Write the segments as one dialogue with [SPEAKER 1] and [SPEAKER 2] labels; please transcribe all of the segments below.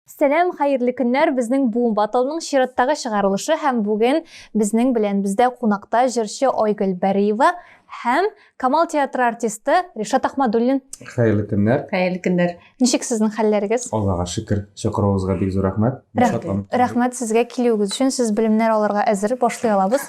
[SPEAKER 1] Сәлам, хәерле көннәр, безнең Boom Battle-ның чираттагы чыгарылышы һәм бүген безнең белән бездә кунакта җырчы Айгөл Бәриева һәм Камал театры артисты Ришат Ахмадуллин. Хәерле көннәр. Хәерле көннәр. Ничек сезнең хәлләрегез? Аллага шөкер. Чакыруыгызга бик зур рәхмәт. Рәхмәт. Рәхмәт сезгә килүегез өчен. Сез белемнәр алырга әзер, башлый алабыз.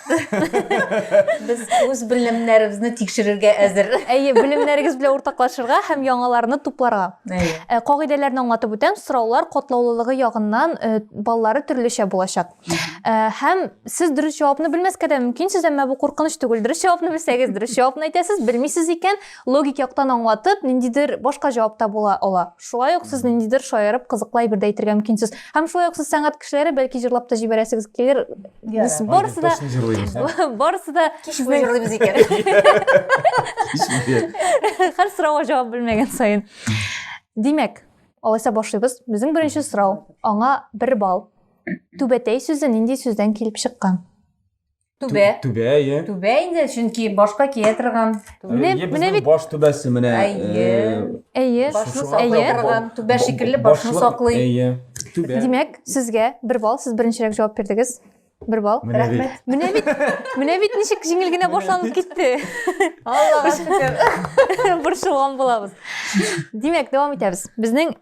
[SPEAKER 1] Без үз белемнәребезне тикшерергә әзер. Әйе, белемнәрегез белән уртаклашырга һәм яңаларны тупларга. Әйе. Э, кагыйдәләрне аңлатып үтәм, сораулар катлаулылыгы ягыннан э, баллары төрлечә булачак. Э, һәм сез дөрес җавапны белмәскә дә мөмкинсез, әмма бу куркыныч түгел. Дөрес җавапны белсәгез, дөрес җавапны әйтәсез, белмисез икән, логик яктан аңлатып, ниндидер башка җавап та була ала. Шулай ук сез ниндидер шаярып, кызыклы әйбер дә әйтергә мөмкинсез. Һәм шулай ук сез сәнгать кешеләре, бәлки җырлап та җибәрәсегез килер. Без барысы да Антон җырлыйбыз, ә? барысы да Кич буе җырлыйбыз икән. һәр сорауга җавап белмәгән саен. Димәк, алайса башлыйбыз. Безнең беренче сорау. Аңа бер балл. Түбәтәй сүзе нинди сүздән килеп чыккан? Түбә. Түбә, иә. Түбә инде, чөнки башка кия торган. Менә менә бит баш түбәсе менә. Әйе. Әйе. Башны саклый торган түбә шикелле башны саклый. Әйе. Түбә. Димәк, сезгә бер балл, сез беренчерәк җавап бирдегез. Бер балл. Рәхмәт. Менә бит, менә бит ничек җиңел генә башланып китте. Аллага шөкер. Борчылган булабыз. Димәк, дәвам итәбез. Безнең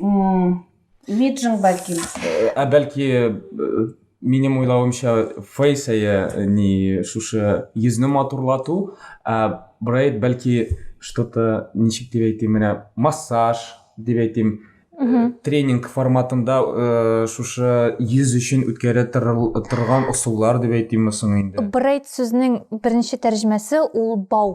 [SPEAKER 1] Миджинг бәлки. Ә бәлки минем уйлавымча фейс әйе ни шушы йөзне матурлату, ә брейд бәлки что-то ничек дип әйтим менә массаж дип әйтим тренинг форматында э, шушы йөз өчен үткәрә торган ысуллар дип әйтимме соң инде брейд сүзнең беренче тәрҗемәсе ул бау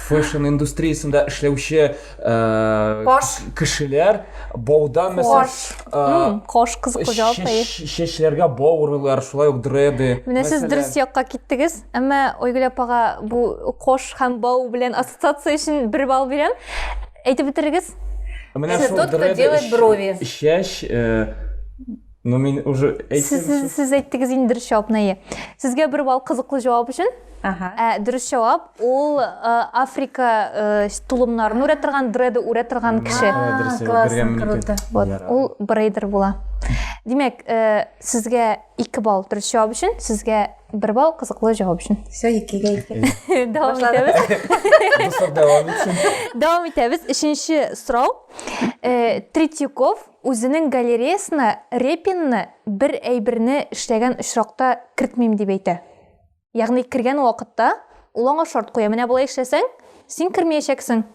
[SPEAKER 1] фэшн индустриясендә эшләүче кош кешеләр баудан мәсәлән кош кыз хуҗалыгы чәчләргә бау урыйлар шулай ук дреды менә сез дөрес якка киттегез әмма ойгөл апага бу кош һәм бау белән ассоциация өчен бер балл бирәм әйтеп бетерегез менә шул дреды чәч Ну мин уже әйтсәм сез, сез әйттегез инде дөрес җавапны әйе сезгә бер балл кызыклы җавап өчен ага. ә, дөрес җавап ул ә, африка ә, тулымнарын үрә торган дреды үрә торган кеше вот ул брейдер була димәк ә, сезгә ике балл дөрес җавап өчен сезгә бер балл кызыклы җавап өчен все икегә ике дәвам итәбез дәвам итәбез өченче сорау третьяков Үзенең галереясына Репинны бер әйберне эшләгән очракта кертмим дип әйтә. Ягъни кергән вакытта ул аңа шарт куя, менә болай эшләсәң, син кермиячәксең.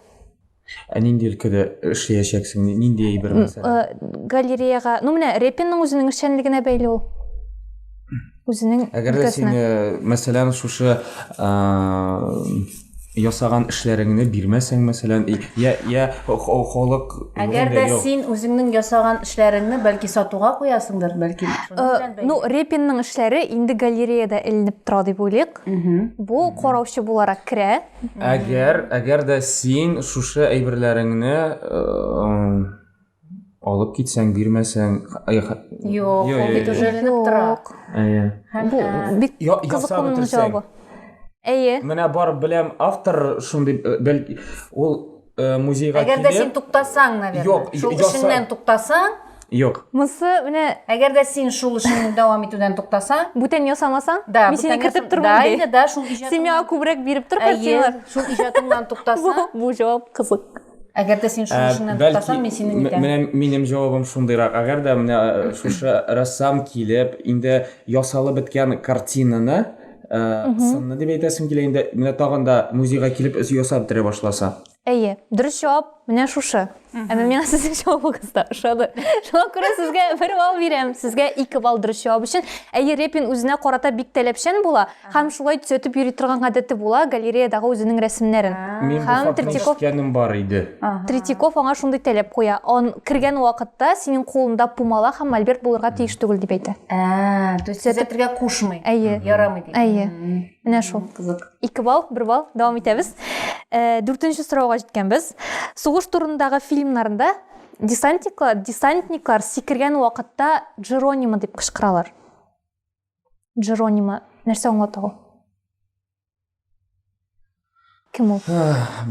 [SPEAKER 1] Ә нинди өлкәдә эшлиячәксең, нинди әйбер мәсәлән? Галереяга, ну менә Репинның үзенең эшчәнлегенә бәйле ул. үзенең әгәр дә син мәсәлән шушы ясаган эшләреңне бирмәсәң мәсәлән я я халык әгәр дә син үзеңнең ясаган эшләреңне бәлки сатуга куясыңдыр бәлки ну репинның эшләре инде галереяда эленеп тора дип уйлыйк бу караучы буларак керә әгәр әгәр дә син шушы әйберләреңне алып китсәң, бирмәсәң, Юк, ул бит уже ленеп тора. Әйе. Бу бик кызыклы җавабы. Әйе. Менә бар беләм автор шундый э, бәлки ул э, музейга килеп. Әгәр дә син туктасаң, наверное. Юк, шул эшеннән туктасаң. Юк. Мысы менә әгәр дә син шул эшне дәвам итүдән туктасаң, бүтән ясамасаң, да, мин сине кертеп тормам ди. Да, да, шул иҗатыңа күбрәк биреп тор картиналар. Шул иҗатыңнан туктасаң. Бу җавап кызык. Әгәр дә син шуны э, эшеңнән тотасаң, мин сине нитәм. Менә минем җавабым шундыйрак. Әгәр дә менә э, шушы рәссам килеп, инде ясалып беткән картинаны э, сынны дип әйтәсем килә инде менә тагын да музейга килеп ясап бетерә башласа әйе дөрес жауап менә шушы әмма миңа сезнең җавабыгыз да ошады шуңа күрә сезгә бер балл бирәм сезгә ике балл дөрес җавап өчен әйе репин үзенә карата бик таләпчән була Һәм шулай төзәтеп йөри торган гадәте була, галереядагы үзенең рәсемнәрен. Мин бу хакта ишеткәнем бар иде. Третьяков аңа шундый таләп куя, он кергән вакытта синең кулында пумала һәм мольберт булырга тиеш түгел дип әйтә. Ә, то есть төзәтергә кушмый. Әйе. Ярамый дип. Әйе. Менә шул. Кызык. 2 балл, 1 балл. Дәвам итәбез. Э, дүртенче сорауга җиткәнбез. Сугыш турындагы фильмнарында десантниклар, десантниклар сикергән вакытта Джеронима дип кычкыралар. Джеронима нәрсә аңлата ул? Кем ул?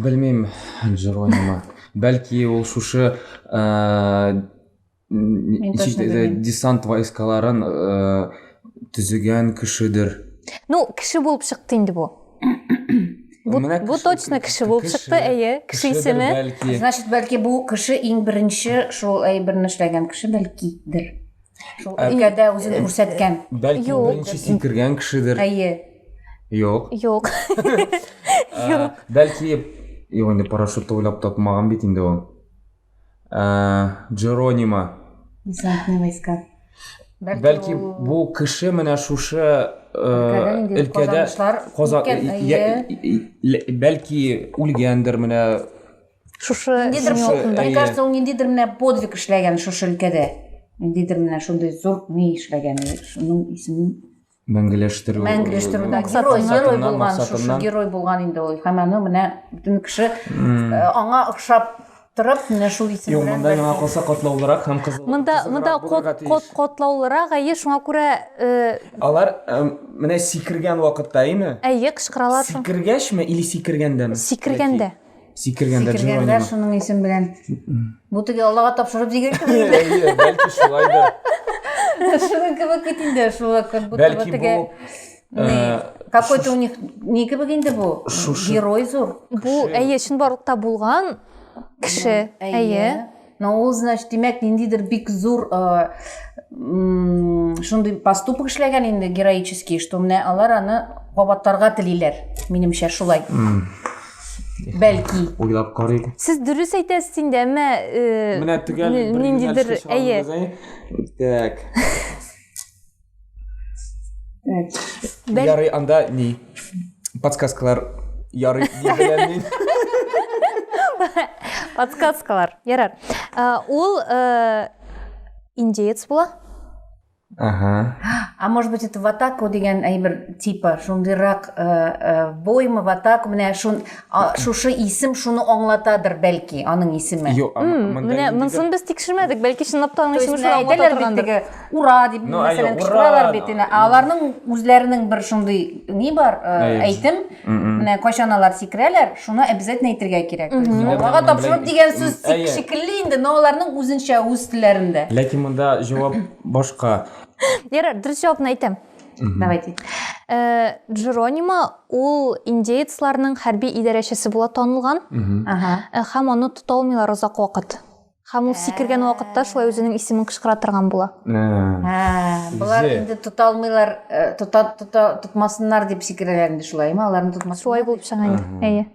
[SPEAKER 1] Белмим, Джеронима. Бәлки ул шушы десант войскаларын төзегән кешедер. Ну, кеше булып чыкты инде бу. Бу, бу точно кеше булып чыкты, әйе, кеше исеме. Значит, бәлки бу кеше иң беренче шул әйберне эшләгән кеше бәлкидер. Шул өлкәдә үзен күрсәткән. Бәлки беренче сикергән кешедер. Әйе. Юк. Юк. Юк. Бәлки юк инде парашютты уйлап тапмаган бит инде ул. Джеронима. Десантный войска. Бәлки бу кеше менә шушы өлкәдә бәлки үлгәндер менә шушы мне кажется ул ниндидер менә подвиг эшләгән шушы өлкәдә ниндидер менә шундый зур ни эшләгән шуның исемен мәңгеләштерү мәңгеләштерүдә герой герой булган шушы герой булган инде ул һәм аны менә бөтен кеше аңа охшап торып менә шул исем белән монда миңа калса катлаулырак һәм кызыл монда монда кот катлаулырак әйе шуңа күрә алар менә сикергән вакытта әйме әйе кычкыралар сикергәчме или сикергәндәме сикергәндә Сикергәндә Сикергәндә шуның исем белән. Бу теге Аллага тапшырып сикеркән инде. Әйе, бәлки шулайдыр. Шуның кебек бит инде, шул как будто Бәлки теге э, какой-то у них ни кебек инде бу? Герой зур. Бу әйе, чынбарлыкта булган кеше. Әйе. Но ул, значит, димәк, ниндидер бик зур э, шундый поступок эшләгән инде героический, что менә алар аны кабатларга телиләр, минемчә шулай. Бәлки. Уйлап карыйк. Сез дөрес әйтәсез инде, әмма э, Менә төгәл ниндидер, әйе. Так. Ярый, анда ни? Подсказкалар ярый дигәннән. Подсказкалар. Ярар. Ул индеец була. Ага. А может быть это ватаку деген әйбер типа шундыйрак э, э, бойма ватаку менә шун шушы исем шуны аңлатадыр бәлки аның исеме. Юк, менә монсын без тикшермәдек, бәлки чынлап та аның исеме шуны аңлата торгандыр. Ура дип ну, мәсәлән кычкыралар бит инде. Аларның үзләренең бер шундый ни бар, э, әйтем. Менә кайчан алар сикерәләр, шуны обязательно әйтергә кирәк. Аллага тапшырып дигән сүз шикелле инде, но аларның үзенчә үз телләрендә. Ләкин монда җавап башка. Ярар, дөрес җавапны әйтәм. Давайте. Э, Джеронима ул индеецларның хәрби идарәчесе була танылган. Ага. Э, һәм аны тота алмыйлар озак вакыт. Һәм ул сикергән вакытта шулай үзенең исемен кычкыра торган була. Болар инде тота алмыйлар, тота тота тотмасыннар дип сикерәләр инде шулаймы? Аларны тотмас. Шулай булып чыга инде. Әйе.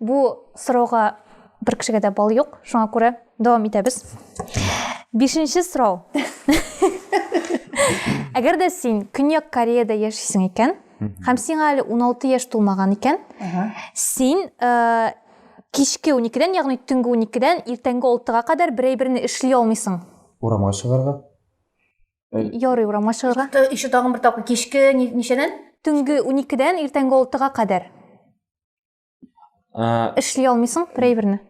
[SPEAKER 1] Бу сорауга бер кешегә дә бал юк. Шуңа күрә дәвам итәбез. Бишенче сорау. Әгәр дә син Көньяк Кореяда яшисең икән, һәм сиңа әле 16 яшь тулмаган икән, син Кичке уникедән, ягъни төнге уникедән иртәнге алтыга кадәр бер әйберне эшли алмыйсың. Урамга чыгарга? Ярый, урамга чыгарга. Еще тагын бер тапкыр, кичке ничәдән? Төнге уникедән иртәнге алтыга кадәр. Эшли алмыйсың бер әйберне.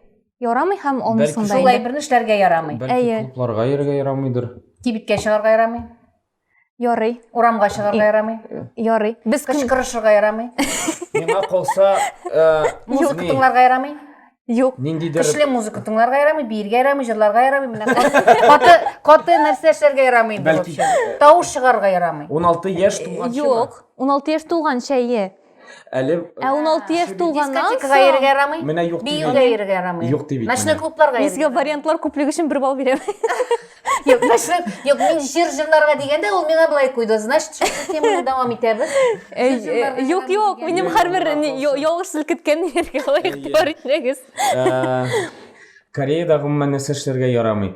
[SPEAKER 1] Ярамый һәм алмыйсың да. Шул әйберне эшләргә ярамый. Бәлки клубларга йөрергә ярамыйдыр. Кибеткә чыгарга ярамый. Ярый. Урамга чыгарга ярамый. Ярый. Без кем? Кычкырышырга ярамый. Миңа калса, э, Музыка ни- тыңларга ярамый. Юк. ниндидер Көчле музыка тыңларга ярамый, биергә ярамый, җырларга ярамый. Менә каты- каты каты нәрсә эшләргә ярамый инде. Бәлки- вообще. Тавыш чыгарга ярамый. 16 яшь тулганчы. Юк. 16 яшь тулганча, е. Әле Ә 16 яшь тулганнан Дискотекага соң йөрергә ярамый. менә юк дип Биюгә әйтә. йөрергә ярамый. Юк дип әйтә. Ночной клубларга мин йөрергә сезгә вариантлар күплеге өчен бер балл бирәм. Юк, ночной- Юк, мин җыр җырларга дигәндә ул миңа былай куйды. Значит, шул системаны дәвам итәбез. Э, Җыр җырларга э, Юк, ярдәм юк, итүгә. минем Юк, һәрбер юк, ни- юк. ялгыш селкеткән нигә лаек Әйе. бар итмәгез. Э, Кореядә гомумән нәрсә эшләргә ярамый?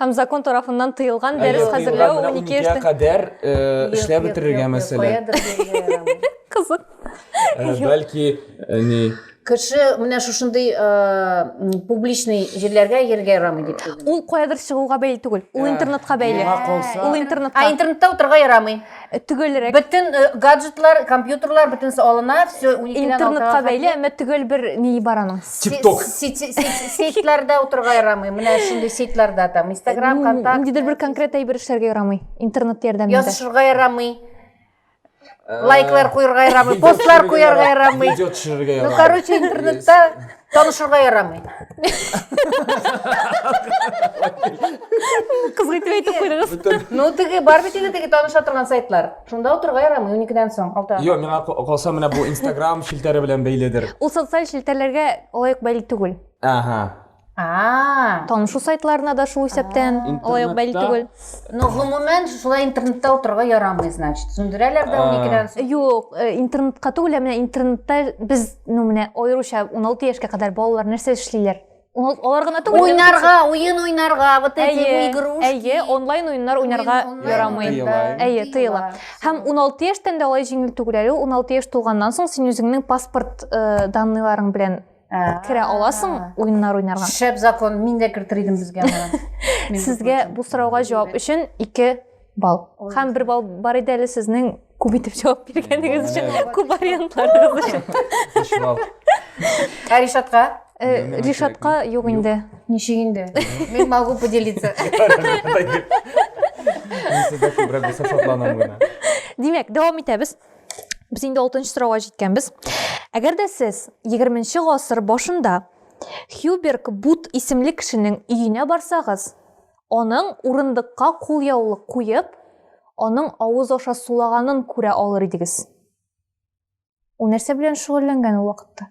[SPEAKER 1] Һәм закон тарафыннан тыелган дәрес хәзерләү 12 яшьтән кадәр эшләп бетерергә мәсәлән. Кызык. Бәлки ни кеше менә шушындый публичный җирләргә йөрергә ярамый дип ул каядыр чыгуга бәйле түгел ул интернетка бәйле ул интернетка ә интернетта утырырга ярамый Э, төгәлрәк бөтен э, гаджетлар компьютерлар бөтенесе алына все интернетка бәйле әмма төгәл бер ни бар аның тикток сетьларда утырырга ярамый менә шундый сетьларда там инстаграм контакт ниндидер бер конкрет әйбер эшләргә ярамый интернет ярдәмендә язышырга ярамый э, лайклар куярга ярамый постлар куярга ярамый видео төшерергә ярамый ну короче интернетта Танышырга ярамый. Кызга итеп әйтеп куйдыгыз. Бөтен- Ну, теге бар бит инде теге таныша торган сайтлар. Шунда утырга ярамый 12-дән соң. Алда. Йо, миңа ка- калса менә бу Инстаграм челтәре белән бәйледер. Ул социаль челтәрләргә лаек бәйле түгел. Ага. А. Танышу сайтларына да шул исәптән лаек бәйле Интернетта түгел. Ну, гомумән, шулай интернетта утырырга ярамый, значит. Сүндерәләр дә А. 12-дән соң. Юк, э, интернетка түгел, ә менә интернетта без, ну менә аеруча 16 яшькә кадәр балалар нәрсә эшлиләр? Ул алар гына түгел. Уйнарга, уен уйнарга, вот эти Әйе, игрушки. әйе, онлайн уеннар уйнарга Уен онлайн ярамый. уеннарда Тыела. Әйе, тыела. Һәм 16 яшьтән дә алай җиңел түгел әле. 16 яшь тулганнан соң син үзеңнең паспорт э, данныйларың белән керә аласың уеннар уйнарга шәп закон мин дә кертер идем безгә сезгә бу сорауга җавап өчен ике балл һәм бер балл бар иде әле сезнең күп итеп җавап биргәнегез өчен күп вариантларыгыз өчен ә ришатка э, ришатка юк инде ничек инде мен могу поделиться мин сездә күбрәк булса шатланам гына димәк дәвам итәбез Без инде 6 нчы сорауга җиткәнбез. Әгәр дә сез 20 нчы гасыр башында Хьюберг Бут исемле кешенең өенә барсагыз, аның урындыкка кулъяулык куеп, аның авыз аша сулаганын күрә алыр идегез. Ул нәрсә белән шөгыльләнгән ул вакытта?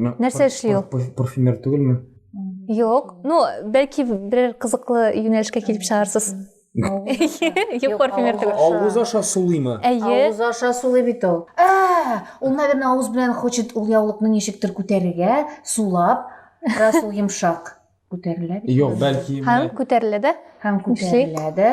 [SPEAKER 1] Нәрсә эшли ул? Парфюмер түгелме? Юк. Ну, бәлки берәр кызыклы юнәлешкә килеп чыгарсыз. Юк, парфюмер түгел. Авыз аша сулыймы? Әйе. Авыз аша сулый бит ул. Ә, ул, наверное, авыз белән хочет ул яулыкны ничектер күтәрергә, сулап, раз ул йомшак күтәрелә бит. Юк, бәлки. Һәм күтәрелә дә. Һәм күтәрелә дә.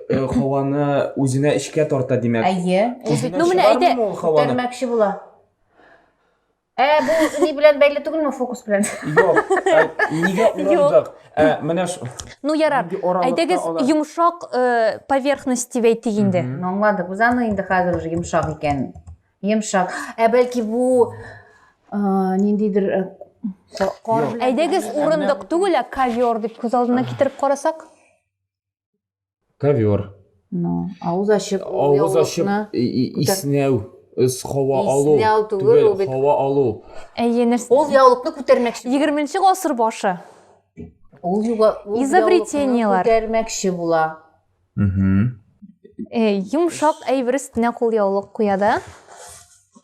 [SPEAKER 1] Э, һаваны үзенә эчкә тарта димәк әйе ну менә әйтә күтәрмәкче була ә бу ни белән бәйле түгелме фокус белән юк ә, нигә урындык ә, менә ну ярар әйдәгез йомшак э, поверхность дип әйтик инде аңладык без аны инде хәзер уже йомшак икән йомшак ә бәлки бу ниндидер э, әйдәгез урындык түгел ә ковер дип күз алдына китереп карасак ковер ну авыз ачып авыз ачып иснәү һава алу түгел һава алу әйе нәрсә ул яулыкны күтәрмәкче егерменче гасыр башы ул изобретениелар күтәрмәкче була э, йомшак әйбер өстенә кул яулык куя да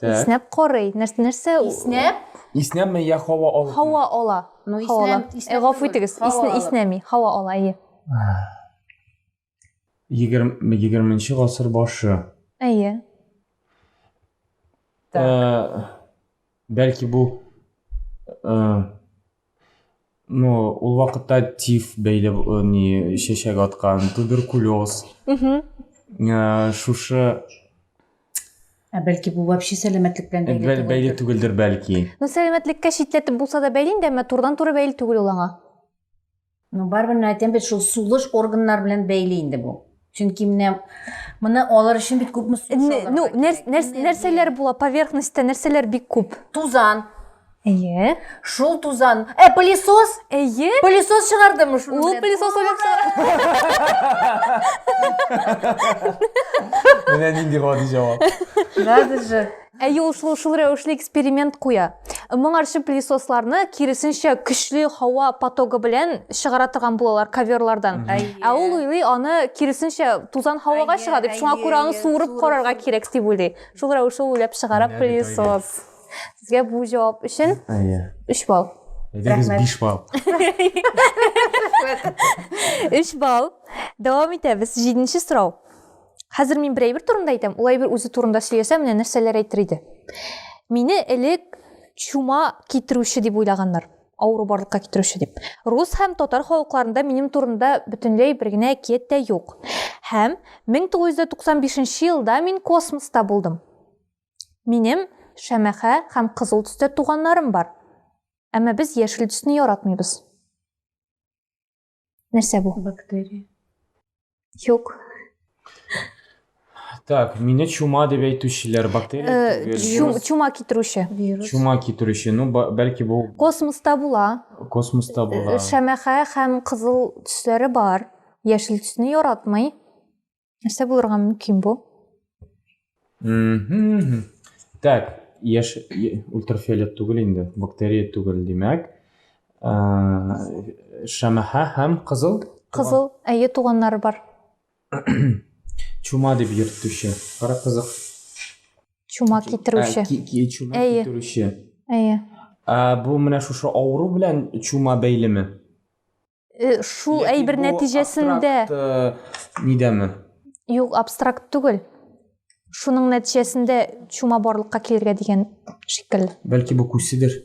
[SPEAKER 1] иснәп карый нәрсә иснәп иснәме я һава ала һава ала ну иснәп э, гафу итегез иснәми һава ала әйе 20-нче гасыр башы. Әйе. Так. Э, бәлки бу э, ну, ул вакытта тиф бәйле э, ни чәчәк аткан, туберкулез. Угу. Шушы Ә бәлки бу вообще сәламәтлек белән бәйле түгел. Бәйле түгелдер бәлки. Ну сәламәтлеккә читләтеп булса да бәйле инде, әмма турыдан туры бәйле түгел ул аңа. Ну, барыбер менә әйтәм бит, шул сулыш органнар белән бәйле инде бу. Чөнки менә моны алыр өчен бит күпме су салырга Ну, кирәк. нәрсәләр була поверхностьта, нәрсәләр бик күп? Тузан. Әйе. Шул тузан. Ә, пылесос? Әйе. Пылесос чыгардымы шуны? Ул белән? пылесос уйлап чыгар. Менә нинди гади җавап. Надо же. Әйе, ул шул, шул рәвешле эксперимент куя. Моңарчы пылесосларны киресенчә көчле һава потогы белән чыгара торган булалар коверлардан. Ә ул уйлый, аны киресенчә тузан һавага чыга дип, шуңа күрә аны суырып карарга кирәк дип уйлый. Шул рәвешле уйлап чыгара пылесос. Сезгә бу җавап өчен 3 балл. Әйдәгез 5 балл. 3 балл. Дәвам итәбез. 7 сорау. Хәзер мин бер әйбер турында әйтәм, ул әйбер үзе турында сөйләсә, менә нәрсәләр әйтер иде. Мине элек чума китерүче дип уйлаганнар. Авыру барлыкка китерүче дип. Рус һәм татар халыкларында минем турында бөтенләй бер генә әкият тә юк. Һәм 1995 елда мин космоста булдым. Минем шәмәхә һәм кызыл төстә туганнарым бар. Әмма без яшел төсне яратмыйбыз. Нәрсә бу? Бактерия. Юк. Так, мине чума дип әйтүчеләр, бактерия Э, түгел. чум, вирус. чума китерүче. Вирус. Чума китерүче. Ну, ба- бәлки бу Космоста була. космоста Э, була. Шәмәхә һәм кызыл төсләре бар. Яшел төсне яратмый. нәрсә булырга мөмкин бу так яш ультрафиолет түгел инде бактерия түгел димәк шәмәхә һәм кызыл кызыл әйе туганнары бар чума дип йөртүче кара кызык чума китерүче чума китерүче әйе ә бу менә шушы авыру белән чума бәйлеме э, шул әйбер нәтиҗәсендә э, нидәме юк абстракт түгел шуның нәтиҗәсендә чума барлыкка килергә дигән шикелле бәлки бу күседер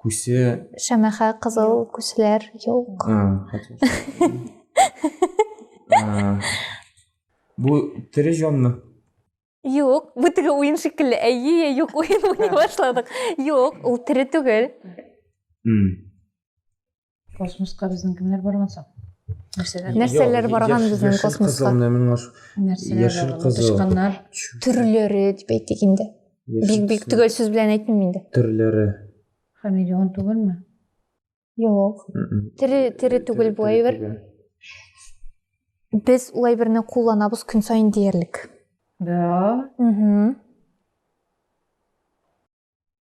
[SPEAKER 1] күсе шәмәхә кызыл күселәр юк бу тере җанмы юк бу теге уен шикелле әйе юк уен уйный башладык юк ул тере түгел космоска безнең кемнәр барган соң нәрсәләр нәрсәләр барган безнең космоска яшел кызыл тычканнар төрләре дип әйтик инде бик бик төгәл сүз белән әйтмим инде төрләре хамелеон түгелме юк тере тере түгел бу әйбер без ул әйберне кулланабыз көн саен диярлек да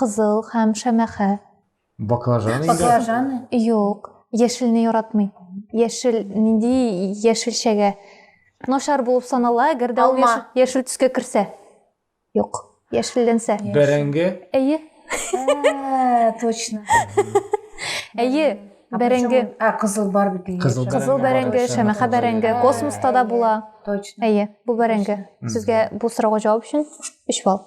[SPEAKER 1] Кызыл һәм шәмәхә. Баклажан инде. Баклажан. Юк, яшелне яратмый. Яшел, нинди яшелчәгә? Начар булып санала, әгәр дә ул яшел төскә керсә. Юк, яшелләнсә. Бәрәңге? Әйе. Ә, точно. Әйе, бәрәңге. Ә, кызыл бар бит. Кызыл бәрәңге, шәмәхә бәрәңге, космоста да була. Точно. Әйе, бу бәрәңге. Сезгә бу сорауга җавап өчен 3 балл.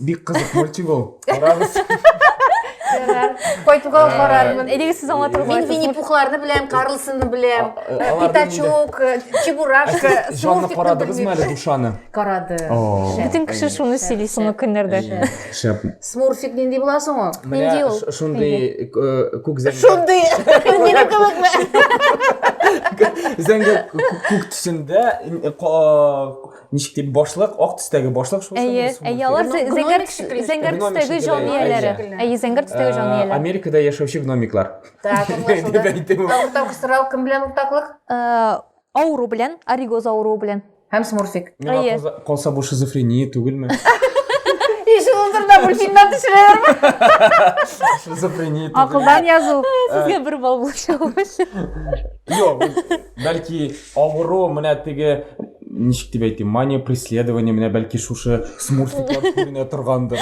[SPEAKER 1] Бик кызык мультик ул. Карагыз. Кайтуга э, карармын. Әйдәгез сез аңлатырга. Мин Винни Пухларны беләм, Карлсонны беләм, э, Питачок, э, Чебурашка, Җанны карадыгызмы әле душаны? Карады. Бөтен кеше шуны сөйли соңгы көннәрдә. Шәп. Смурфик нинди була соң ул? Нинди ул? Шундый күк зәңгәр. Шундый. Мине кебекме? Зәңгәр күк төсендә Ничек дип башлык, ак төстәге башлык шул Әйе, әйе, алар зәңгәр төстәге җан ияләре. Әйе, зәңгәр төстәге җан ияләре. Америкада яшәүче гномиклар. Так, Тавык сорау кем белән уртаклык? Авыру белән, оригоз авыруы белән. Һәм смурфик. Әйе. Калса бу шизофрения түгелме? Ишелдердә мультфильмнан төшерәләрме? Шизофрения. Акылдан язу. Сезгә бер балл булачак. Юк, бәлки авыру менә теге ничек дип әйтим мания преследование менә бәлки шушы смурфиклар күренә торгандыр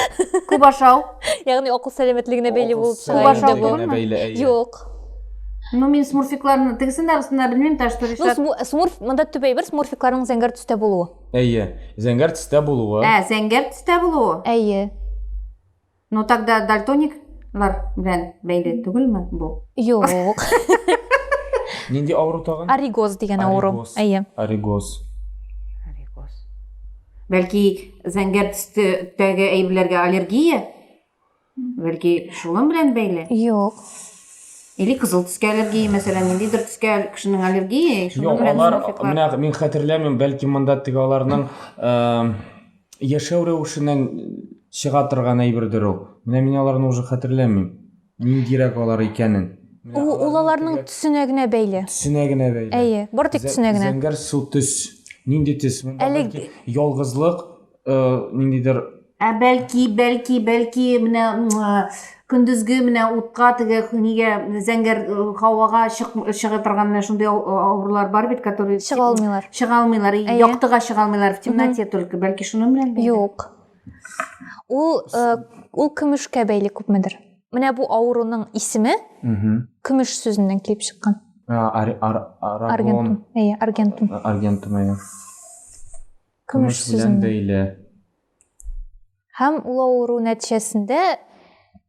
[SPEAKER 1] күп ашау ягъни акыл сәламәтлегенә бәйле булып чыга инде бу юк Ну, мин смурфикларны тегесен дә астында белмим, та что решат. Ну, смурф, монда төп әйбер смурфикларның зәңгәр төстә булуы. Әйе, зәңгәр төстә булуы. Ә, зәңгәр төстә булуы. Әйе. Ну тогда дальтониклар белән бәйле түгелме бу? Юк. Нинди авыру тагын? Оригоз дигән авыру. Оригоз. Әйе. Оригоз. Оригоз. Бәлки зәңгәр төстәге әйберләргә аллергия? Бәлки шуның белән бәйле? Юк. Или кызыл төскә аллергия, мәсәлән, ниндидер төскә кешенең аллергия, шуның белән алар, менә мин хәтерләмим, бәлки монда теге аларның э, Яшәү рәвешеннән чыга торган әйбердер ул. Менә мин аларны уже хәтерләмим. Ниндирәк алар икәнен. Менә Ул, ул аларның аларның төсенә генә бәйле. төсенә генә бәйле. Әйе, бары тик Зә- төсенә генә. Зәңгәр су төс. Нинди төс? Монда Әле- бәлки ялгызлык, э, ниндидер Ә бәлки, бәлки, бәлки менә м, көндезге менә утка теге нигә зәңгәр э, һавага чык, чыга торган менә шундый авырулар бар бит которые чыга алмыйлар чыга алмыйлар яктыга чыга алмыйлар в темноте только бәлки шуның белән юк ул э, ул көмешкә бәйле күпмедер менә бу авыруның исеме көмеш сүзеннән килеп чыккан аргентум әйе аргентум аргентум әйе көмеш сүзеннән бәйле Һәм ул авыру нәтиҗәсендә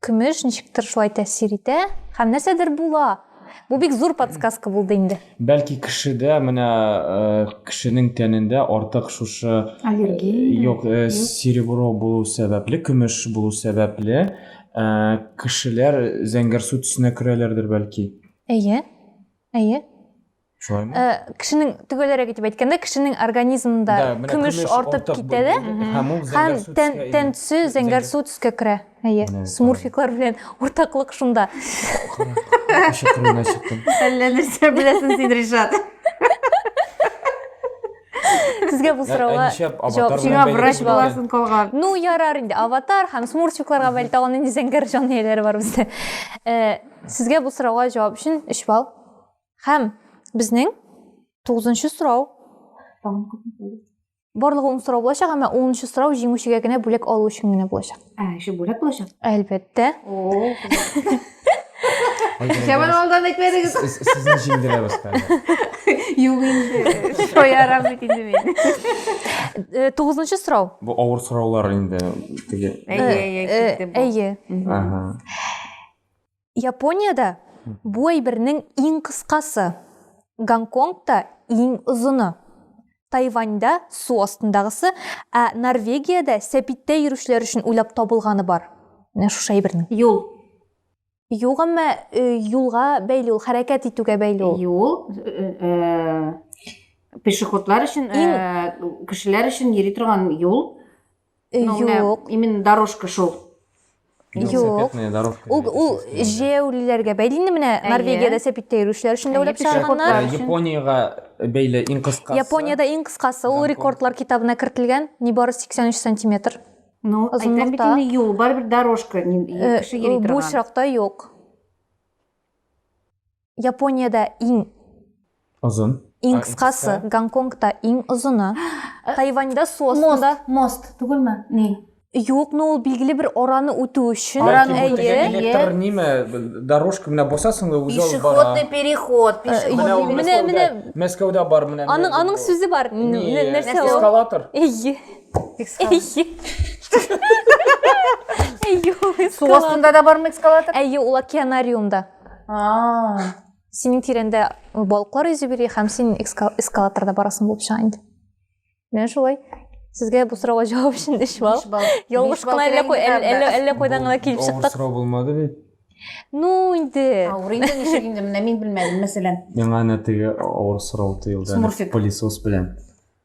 [SPEAKER 1] көмеш ничектер шулай тәэсир итә һәм нәрсәдер була. Бу бик зур подсказка булды инде. Бәлки кешедә менә кешенең тәнендә артык шушы аллергия юк, серебро булу сәбәпле, көмеш булу сәбәпле, кешеләр зәңгәрсу төсенә керәләрдер бәлки. Әйе. Әйе. шулаймы э, кешенең төгәлрәк итеп әйткәндә кешенең организмында көмеш артып китә дә һәм ул тән төсе зәңгәр су төскә керә әйе смурфиклар белән уртаклык шунда әллә нәрсә беләсең син ришат Сезгә бу сорауга җавап сиңа врач буласың калган. Ну ярар инде аватар һәм смурфикларга бәлки тагын нинди зәңгәр җан ияләре бар бездә. Э, сезгә бу сорауга җавап өчен 3 балл. Һәм безнең тугызынчы сорау. Барлыгы ун сорау булачак, әмма унынчы сорау җиңүчегә генә бүләк алу өчен генә булачак. Ә, еще бүләк булачак? Әлбәттә. О. Шәмән алдан әйтмәдегез. Сезне җиңдерәбез хәзер. Юк инде. Шоярам бит инде мин. Э, тугызынчы сорау. Бу авыр сораулар инде. Әйе, әйе, э, э, китте бу. Әйе. Ага. Япониядә бу әйбернең иң кыскасы, Гонконгта иң озыны, Тайваньда су астындагысы, ә Норвегиядә сәпиттә йөрүчеләр өчен уйлап табылганы бар. Менә шушы әйбернең. Юл. Юк, әмма юлга бәйле ул, хәрәкәт итүгә бәйле ул. Юл, пешеходлар өчен, кешеләр өчен йөри торган юл. Э, Ну, менә Юк. именно дорожка шул. Юк. Велосипедная дорожка. Ул, ул җәяүлеләргә бәйле инде менә Әйе. Норвегиядә сәпиттә йөрүчеләр өчен дә Әйе, уйлап пешек чыгарганнар. Ә, Өчен. Япониягә бәйле иң кыскасы. Япониядә иң кыскасы ул Гонконг. рекордлар китабына кертелгән, нибары 83 сантиметр. Ну, Озынлыкта. әйтәм бит инде юл, барыбер дорожка. ни- Э, кеше йөри Бу торган. очракта юк. Японияда иң озын иң кыскасы гонконгда иң озыны тайваньда су астында мост түгелме ни Юк, но ул билгеле бер араны үтү өчен. Араны үтү электр ниме, дорожка менә басасың да үзе алып бара. Пешеходный переход, пешеходный. Менә менә Мәскәүдә бар менә. Аның аның сүзе бар. Нәрсә ул? Эскалатор. Эйе. Эйе. Эйе. Су астында да бармы эскалатор? Эйе, ул океанариумда. а синең тирәңдә балыклар йөзеп йөри һәм син эскалаторда барасың булып чыга инде менә шулай сезгә бу сорауга җавап өчен өч балл ялгыш кына әллә кайдан гына килеп чыктык сорау булмады бит ну инде авыр инде ничек инде менә мин белмәдем мәсәлән миңа әнә теге авыр сорау тыелды пылесос белән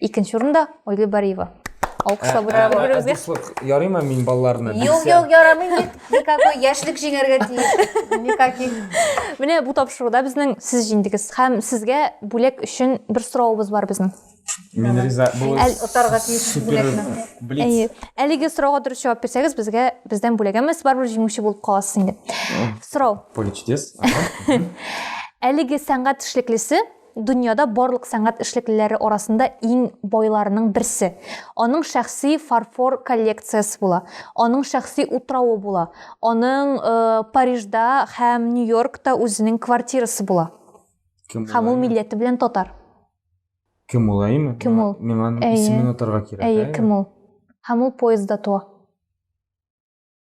[SPEAKER 1] Икенче урында Ольга Бариева. Алкышлап Ә, ә, ә, дуслык ярыймы мин балаларны Юк, юк, ярамый бит. Никакой яшьлек җиңәргә тиеш. Никаких. Менә бу тапшыруда безнең сез җиңдегез һәм сезгә бүләк өчен бер соравыбыз бар безнең. Мин риза. Бу Әл- Отарга тиеш супер бүләкне. блиц. Әйе. Әлеге сорауга дөрес җавап бирсәгез, безгә бездән бүләк әмма сез барыбер җиңүче булып каласыз инде. Сорау. Поле чудес. Ага. Әлеге сәнгать эшлеклесе Дөньяда барлык сәнгать эшлеклеләре арасында иң байларының берсе. Аның шәхси фарфор коллекциясе була, аның шәхси утравы була, аның Парижда һәм Нью-Йоркта үзенең квартирасы була. Кем Һәм ул милләте белән татар. Кем ул, әйеме? Кем ул? Миңа исемен атарга кирәк. Әйе, кем ул? Һәм ул поездда туа.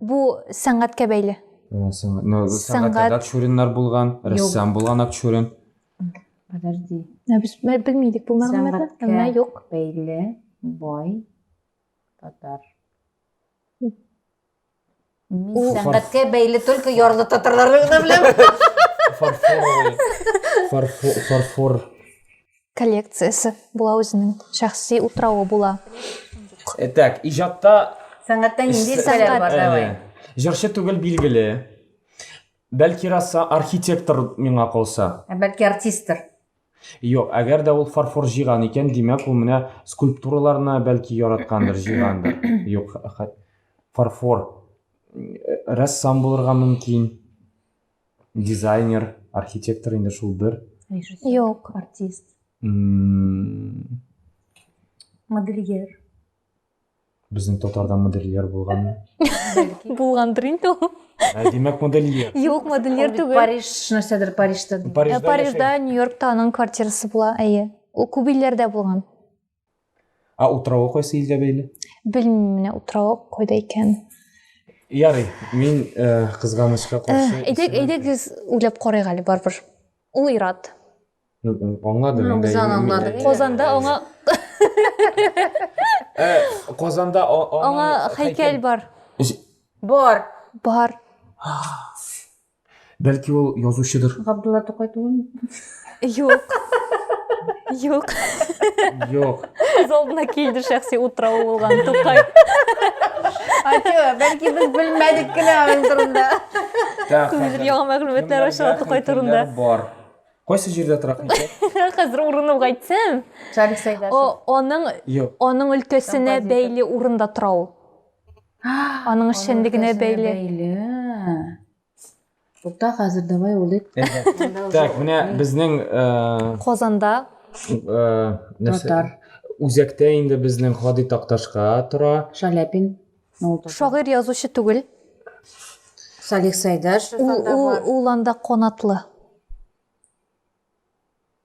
[SPEAKER 1] Бу сәнгатькә бәйле. Э, ну, сәнгать Акчуриннар булган, рәссам булган Акчурин. Подожди. Ә без белмидек бу мәгълүматны, әмма юк. Бәйле, бай, татар. Мин сәнгатькә бәйле только ярлы татарларны гына беләм. Фарфор. Фарфор. коллекциясе була үзенең шәхси утравы була э, так иҗатта сәнгатьтә нинди сәнгать бар давай җырчы түгел билгеле бәлки раса архитектор миңа калса ә бәлки артистр Юк, әгәр дә ул фарфор җыйган икән, димәк ул менә скульптураларны бәлки яраткандыр, җыйгандыр. Юк, фарфор рәссам булырга мөмкин. Дизайнер, архитектор инде шул бер. Режиссер. Юк. Артист. М, Модельер. Безнең татарда модельер булганмы? Бәлки. Булгандыр инде ул. Ә, Димәк, модельер. Юк, модельер Ул бит түгел. Париж нәрсәдер Парижда. Ә, Парижда яшәгән. Парижда, Нью-Йоркта аның квартирасы була, әйе. Ул күп илләрдә булган. Ә утравы кайсы илгә бәйле? Белмим менә утравы кайда икән. Ярый, мин э, кызганычка каршы. Э, әйдәк, әйдәк без уйлап карыйк әле барыбер. Ул Ират. Аңладым. Ну, без аңладык. Казанда аңа э, Казанда аңа һәйкәл бар. Бар. Бар. Бәлки ул язучыдыр. Габдулла Тукай түгелме? Юк. Юк. Юк. Күз алдына килде шәхси утравы булган Тукай. Ачу, бәлки без белмәдек кенә аның турында. Күңелдер яңа мәгълүматлар аша Тукай турында. Бар. Кайсы җирдә тора икән? Хәзер урынып әйтсәм. Шарик Сәйдәшев. Аның аның өлкәсенә бәйле урында тора ул. Аның эшчәнлегенә бәйле. Тукта, хәзер давай улыйк. Так, менә безнең Казанда татар үзәктә инде безнең Хади Такташка тора. Шаляпин. Шагыйрь язучы түгел. Салих Сайдаш. Ул ул анда канатлы.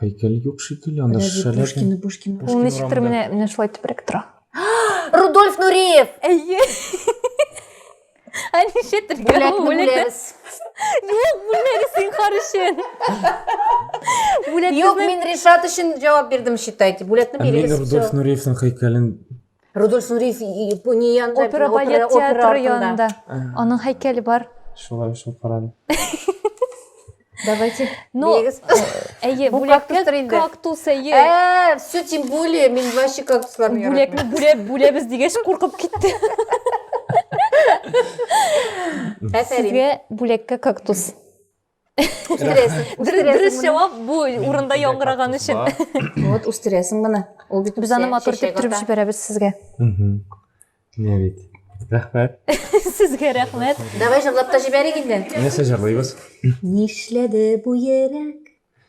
[SPEAKER 1] Һәйкәл юк шикелле, анда Подожди, шешәләр. Пушкина, Пушкина. Ул Пушкин ничектер урамында. менә менә шулай тибрәк тора. Рудольф Нуриев! Әйе. Ә ничектер Бүләкне бүләбез. Юк, бүлмәгез зинһар өчен. Бүләк Юк, безнең мин Ришат өчен җавап бирдем, считайте. Бүләкне Ә мин бирегез. Рудольф Нуриевның һәйкәлен Рудольф Нуриев не янда, опера балет театры янында. Аның һәйкәле бар. Шулай шул карады. Давайте. Ну, э, әйе, бүләккә кактус әйе. Ә, все тем более, мин вообще кактусларны яратам. Бүләкне бүләп, бүләбез дигәч куркып китте. Сезгә бүләккә кактус. дөрес жауап бу урында яңгыраган өчен вот үстерәсең моны ул бит без аны матур итеп төреп җибәрәбез сезгә менә бит рәхмәт сезгә рәхмәт давай җырлап та җибәрик инде нәрсә җырлыйбыз нишләде бу йөрәк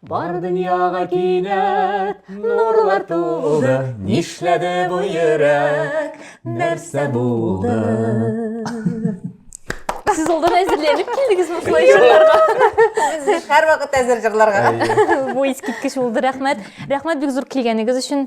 [SPEAKER 1] Бар дөньяга кинәт нурлар туды, Нишләде бу йөрәк, нәрсә булды? Сез алдан әзерләнеп килдегез бу флешерларга. Без һәр вакыт әзер җырларга. Бу искиткеч булды, рәхмәт. Рәхмәт бик зур килгәнегез өчен.